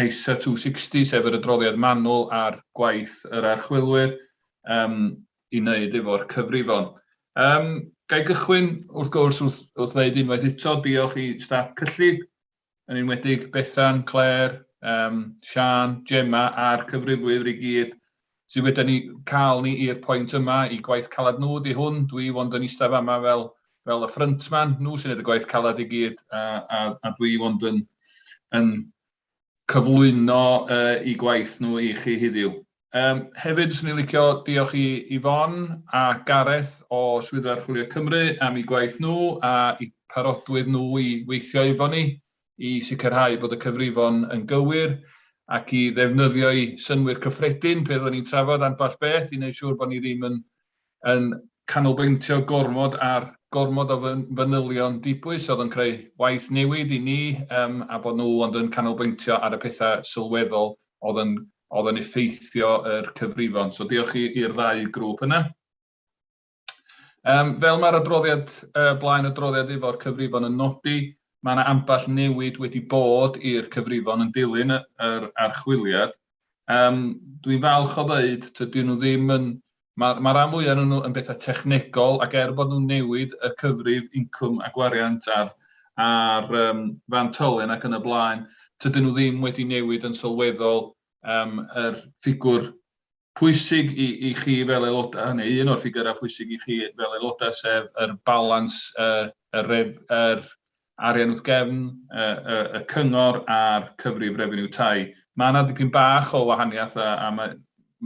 ISA 260, sef yr adroddiad manwl ar gwaith yr archwilwyr um, i wneud efo'r cyfrifon. Um, Gai gychwyn, wrth gwrs, wrth, wrth ddeud unwaith eto, diolch i staff cyllid, yn enwedig Bethan, Claire, um, Sian, Gemma a'r cyfrifwyr i gyd sy wedi ni cael ni i'r pwynt yma, i gwaith caled nhw ydy hwn, dwi ond yn eistedd fama fel, fel y ffryntman, nhw sy'n gwneud y gwaith caled i gyd, a, a, a dwi ond yn, yn cyflwyno uh, i gwaith nhw i chi heddiw. Um, hefyd, swn i'n licio diolch i Yvonne a Gareth o Swyddfa Archwilio Cymru am eu gwaith nhw a i parodwydd nhw i weithio efo ni. i sicrhau bod y cyfrifon yn gywir ac i ddefnyddio'u synnwyr cyffredin pe oeddwn ni'n trafod ambell beth i wneud siŵr bod ni ddim yn, yn canolbwyntio gormod ar gormod o fanylion dibwys oedd yn creu waith newid i ni um, a bod nhw ond yn canolbwyntio ar y pethau sylweddol oedd yn, oedd yn effeithio yr cyfrifon. So diolch i'r ddau grŵp yna. Um, fel mae'r adroddiad uh, blaen adroddiad efo'r cyfrifon yn nodi, mae yna ambell newid wedi bod i'r cyfrifon yn dilyn yr archwiliad. Um, Dwi'n falch o ddeud, tydyn nhw ddim yn... Mae'r ma rhan fwyaf nhw yn bethau technegol ac er bod nhw'n newid y cyfrif incwm a gwariant a'r, ar um, fan tylen ac yn y blaen, tydyn nhw ddim wedi newid yn sylweddol um, yr ffigwr pwysig i i chi fel aelodau, neu un o'r ffigyrau pwysig i chi fel aelodau, sef yr balans y y ref- yr arian wrth gefn y y y cyngor a'r cyfrif refeniw tai. Mae yna dipyn bach o wahaniaeth a a mae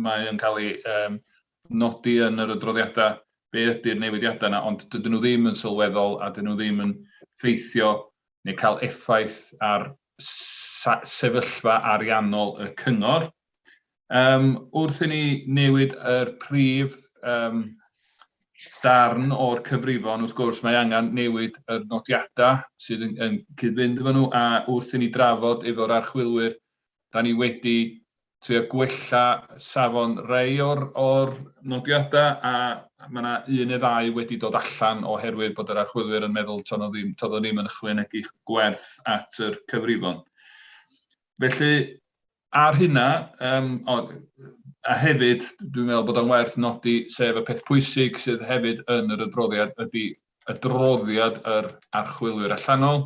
mae yn cael ei yym nodi yn yr adroddiadau be ydy'r newidiadau yna, ond dydyn nhw ddim yn sylweddol a dydyn nhw ddim yn ffeithio neu cael effaith ar s- sa- sefyllfa ariannol y cyngor. Yym, wrth i ni newid yr prif um, darn o'r cyfrifon, wrth gwrs, mae angen newid yr nodiadau sydd yn, yn cyd-fynd efo nhw, a wrth i ni drafod efo'r archwilwyr, da ni wedi trio gwella safon rei o'r, or nodiadau, a mae yna un neu ddau wedi dod allan oherwydd bod yr archwilwyr yn meddwl to'n ddim, ddim yn ychwanegu gwerth at yr cyfrifon. Felly, ar hynna, um, o, a hefyd, dwi'n meddwl bod o'n werth nodi, sef y peth pwysig sydd hefyd yn yr adroddiad, ydy adroddiad yr archwilwyr allanol,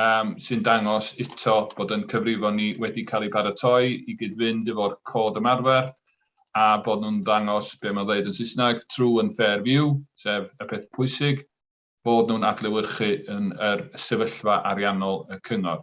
um, sy'n dangos eto bod yn cyfrifon ni wedi cael ei paratoi i gyd-fynd efo'r cod ymarfer, a bod nhw'n dangos be mae'n dweud yn Saesneg, true and fair view, sef y peth pwysig, bod nhw'n adlewyrchu yn yr sefyllfa ariannol y cyngor.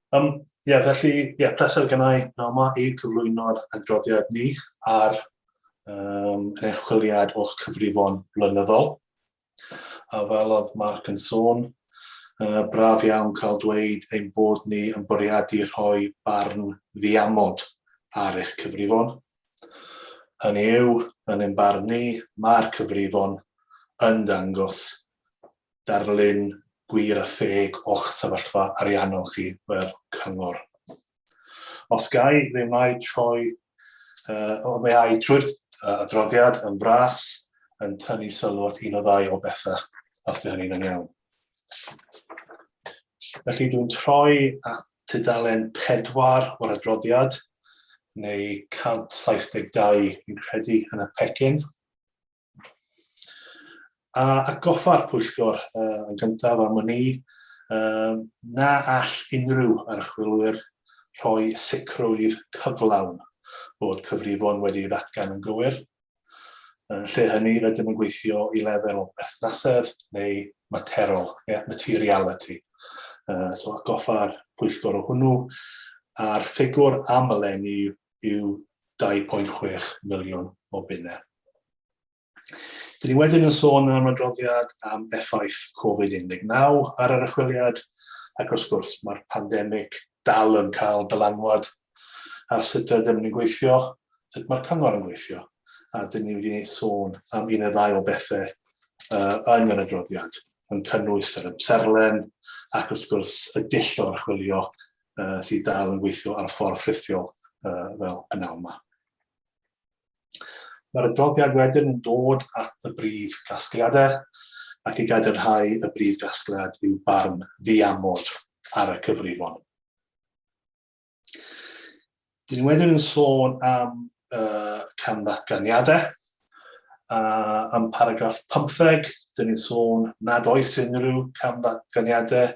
Um, Ie, yeah, felly, ie, yeah, pleser gen i Noma i cyflwyno'r adroddiad ni ar um, yn eich chwiliad o'ch cyfrifon blynyddol. A fel oedd Mark yn sôn, uh, braf iawn cael dweud ein bod ni yn bwriadu rhoi barn ddiamod ar eich cyfrifon. Hynny yw, yn ein barn ni, mae'r cyfrifon yn dangos darlun gwir a theg o'ch sefyllfa ariannol chi fel cyngor. Os gai, fe mae troi, uh, fe ai trwy'r uh, adroddiad yn fras yn tynnu sylw at un o ddau o bethau, os dy hynny'n yn iawn. Felly dwi'n troi at tudalen 4 o'r adroddiad, neu 172 yn credu yn y pecyn. A atgoffa'r pwyllgor uh, yn gyntaf am wn i uh, na all unrhyw archwilwyr rhoi sicrwydd cyflawn bod cyfrifon wedi ei ddatgan yn gywir. Yn lle hynny, rydym yn gweithio i lefel o berthnasedd neu materol, yeah, materiality. Uh, so goffa'r pwyllgor o hwnnw, a'r ffigwr amlen i yw 2.6 miliwn o bunnau. Dyn ni wedyn yn sôn yn ymwydroddiad am effaith Covid-19 ar yr achwiliad, ac wrth gwrs mae'r pandemig dal yn cael dylanwad ar sut ydym ni'n gweithio, sut mae'r cyngor yn gweithio, a dyn ni wedi sôn am un neu ddau o bethau uh, yn yr adroddiad, yn cynnwys yr ymserlen ac wrth gwrs y dull o archwilio uh, sydd dal yn gweithio ar y ffordd ffrithiol uh, fel y naw yma. Mae'r adroddiad wedyn yn dod at y brif gasgliadau ac i gadarnhau y brif gasgliad yw barn ddiamod ar y cyfrifon. Dyn ni wedyn yn sôn am uh, cam ddatganiadau, a am paragraff 15, dyn ni'n sôn nad oes unrhyw cam ddatganiadau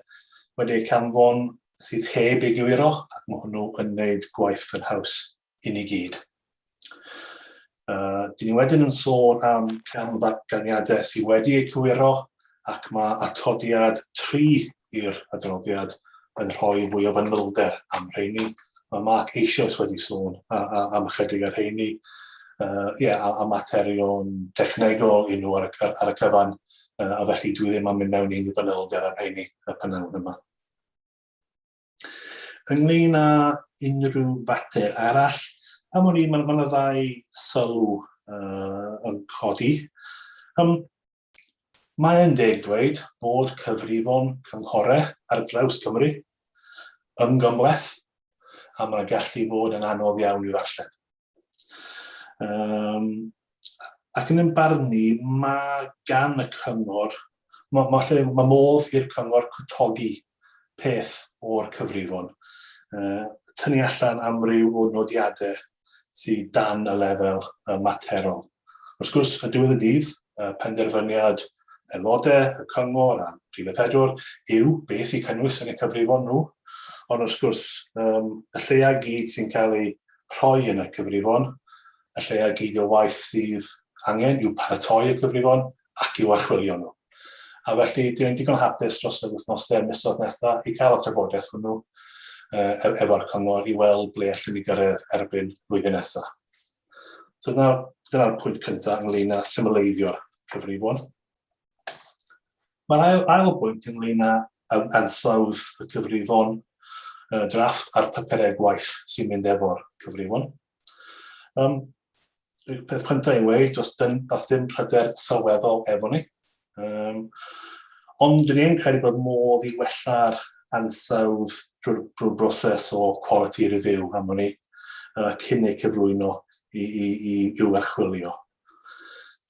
wedi eu canfon sydd heb ei gywiro, ac mae hwnnw yn gwneud gwaith yn haws i ni gyd. Uh, dyn ni wedyn yn sôn am cam ddatganiadau sydd wedi eu cywiro ac mae atodiad 3 i'r adroddiad yn rhoi fwy o fanylder am rheini. Mae Mark eisoes wedi sôn am ychydig ar rheini, uh, yeah, a, a materion technegol i nhw ar, ar, ar y cyfan, uh, a felly dwi ddim am mynd mewn i'n fanylder am rheini y prynawn yma. Ynglyn â unrhyw fater arall, am o'n i, mae'n ma ddau sylw uh, yn codi. Um, Mae'n deg dweud bod cyfrifon cynghorau ar draws Cymru yn gymhleth a mae'n gallu fod yn anodd iawn i'w ddarllen. Um, ac yn ymbarn ni, mae gan y cyngor, mae, ma lle, mae modd i'r cyngor cwtogi peth o'r cyfrifon. Uh, tynnu allan amryw o nodiadau sydd dan y lefel uh, materol. Wrth gwrs, y diwedd y dydd, uh, penderfyniad aelodau y cyngor a'r prif weithredwr yw beth i cynnwys yn y cyfrifon nhw, ond wrth gwrs um, y lleia gyd sy'n cael ei rhoi yn y cyfrifon, y lleia gyd o waith sydd angen i'w paratoi y cyfrifon ac i'w archwilio nhw. A felly, dwi'n digon hapus dros yr wythnosau misoedd nesaf i gael y trafodaeth hwnnw uh, efo'r cyngor i weld ble allwn ni gyrraedd erbyn flwyddyn nesaf. So dyna'r dyna pwynt cyntaf ynglyn â symleiddio'r cyfrifon. Mae'r ail, ail bwynt ynglyn â um, ansawdd y cyfrifon uh, drafft a'r papurau gwaith sy'n mynd efo'r cyfrifon. Um, y peth cyntaf i weid, os, dyn, os dim pryder sylweddol efo ni, Um, ond dyn ni'n credu bod modd i wella'r ansawdd drwy'r drwy broses o quality review am hynny, uh, cyn eu cyflwyno i, i, i, i'w archwilio.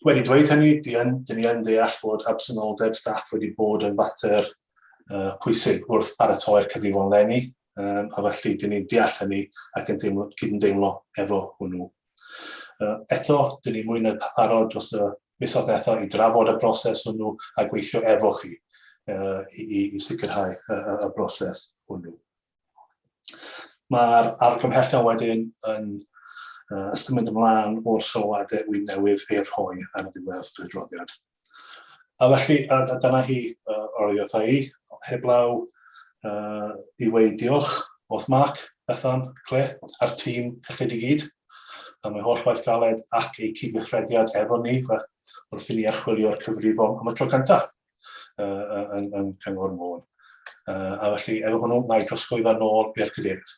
Wedi dweud hynny, dyn ni yn deall bod absenoldeb staff wedi bod yn fater uh, pwysig wrth paratoi'r cyfrifon lenni, um, a felly dyn ni'n deall hynny ac yn deimlo, cydymdeimlo efo hwnnw. Eto, dyn ni mwy na barod dros y misoedd nesaf i drafod y broses hwnnw a gweithio efo chi i sicrhau y broses hwnnw. Mae'r argymhellion wedyn yn ystymyd ymlaen o'r sylwadau wy'n newydd ei rhoi ar ddiwedd y droddiad. A felly, a, a dyna hi, uh, oriodd i, heblaw uh, i weid diolch wrth Mark, Bethan, Cle, a'r tîm cyllid i gyd, am ei holl waith galed ac eu cydweithrediad efo ni, wrth i ni archwilio'r cyfrifon am y tro cyntaf uh, yn, yn Cyngor Môn. Uh, a felly, efo hwnnw, mae drosgwydda nôl i'r cadeirydd.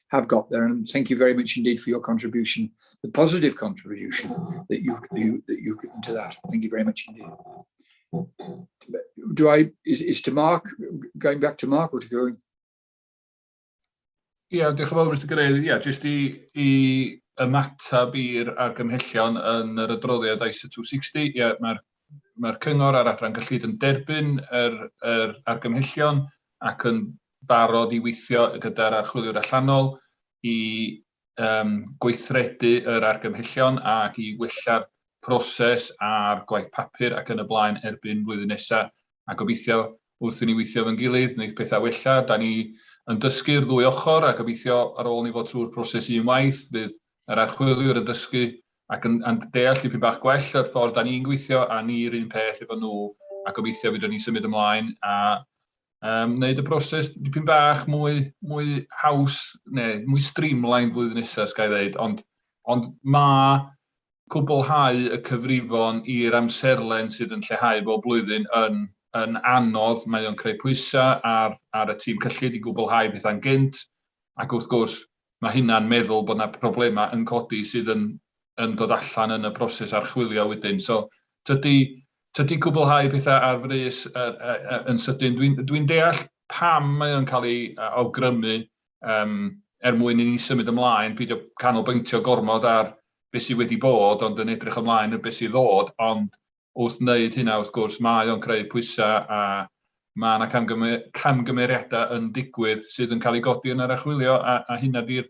have got there. And thank you very much indeed for your contribution, the positive contribution that you've, you, that you've given to that. Thank you very much indeed. Do I, is, is to Mark, going back to Mark or to going? Ie, yeah, diolch yn fawr, Mr Grey. Ie, yeah, jyst i, i ymateb i'r argymhellion yn yr adroddiad ISA 260. Ie, yeah, mae'r mae cyngor a'r adran gyllid yn derbyn yr, yr argymhellion ac yn barod i weithio gyda'r archwiliwr allanol i um, gweithredu yr argymhellion ac i wella'r proses a'r gwaith papur ac yn y blaen erbyn flwyddyn nesaf. A gobeithio wrth i ni weithio fe'n gilydd, wneud pethau wella. Da ni yn dysgu'r ddwy ochr a gobeithio ar ôl ni fod trwy'r proses un waith, fydd yr archwiliwr yn dysgu ac yn, yn deall dipyn bach gwell yr ffordd da ni'n gweithio a ni'r un peth efo nhw a gobeithio fydden ni'n symud ymlaen a Um, wneud y broses dipyn bach mwy, mwy haws, neu mwy streamlined flwyddyn nesaf, sgai ddeud, ond, ond mae cwblhau y cyfrifon i'r amserlen sydd yn lleihau bob blwyddyn yn, yn anodd. Mae o'n creu pwysau ar, ar y tîm cyllid i gwblhau bethau'n gynt, ac wrth gwrs mae hynna'n meddwl bod yna problemau yn codi sydd yn, yn dod allan yn y broses archwilio wedyn. So, tydy Tydi cwblhau pethau ar frys yn sydyn, dwi'n deall pam mae o'n cael ei awgrymu er mwyn i ni symud ymlaen, peidio canolbwyntio gormod ar beth sydd wedi bod ond yn edrych ymlaen ar beth sydd ddod, ond wrth wneud hynna wrth gwrs mae o'n creu pwysau a mae 'na camgymeriadau yn digwydd sydd yn cael eu codi yn yr archwilio a hynna 'di'r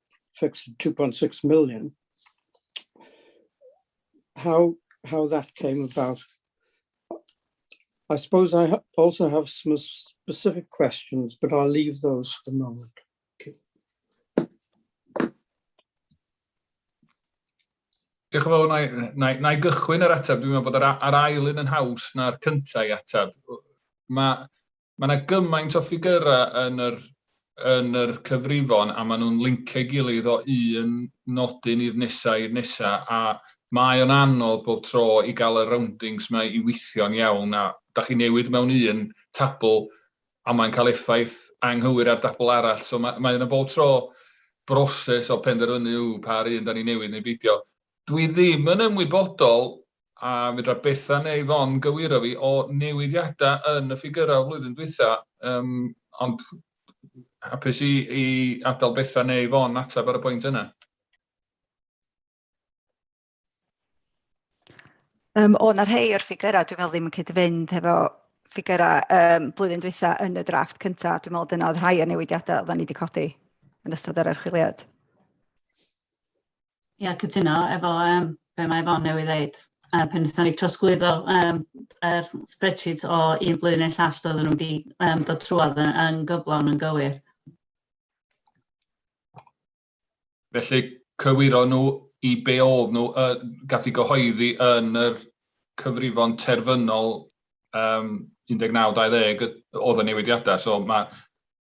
fixed at 2.6 million. How how that came about. I suppose I ha also have some specific questions, but I'll leave those for the moment. Okay. Diolch yn fawr, na i, na, i, na i gychwyn yr ateb. Dwi'n meddwl bod yr, yr ail un yn haws na'r cyntaf i ateb. Mae Mae 'na gymaint o ffigyrau yn yr yn yr cyfrifon a maen nhw'n lincio ei gilydd o un nodyn i'r nesa i'r nesa a mae o'n anodd bob tro i gael y roundings 'ma i weithio'n iawn a da chi'n newid mewn un tabl a mae'n cael effaith anghywir ar dabl arall so mae mae yna bob tro broses o penderfynu yw pa ar un da ni'n newid neu beidio. Dwi ddim yn ymwybodol a fedra Bethan neu Fon gywiro fi, o newidiadau yn y ffigyrau o flwyddyn dwytha, um, ond hapus i, i adael Bethan neu Fon ateb ar y pwynt yna. Um, o, na rhai o'r ffigyrau, dwi'n meddwl ddim yn cyd-fynd hefo ffigyrau um, blwyddyn dwytha yn y drafft cyntaf. Dwi'n meddwl dyna oedd rhai o newidiadau oedden ni wedi codi yn ystod yr archwiliad. Ia, cytuno efo yym be' mae Yvonne newydd ddeud. Yy pan nethon ni trosglwyddo yym yr spreadsheets o un blwyddyn i'r llall doedden nhw'm 'di yym dod trwodd yy yn gyflawn yn gywir. Felly cywiro nhw i be' o'dd nhw yy gath 'u gyhoeddi yn yr cyfrifon terfynol yym 19, 20 o'dd y newidiada', so ma'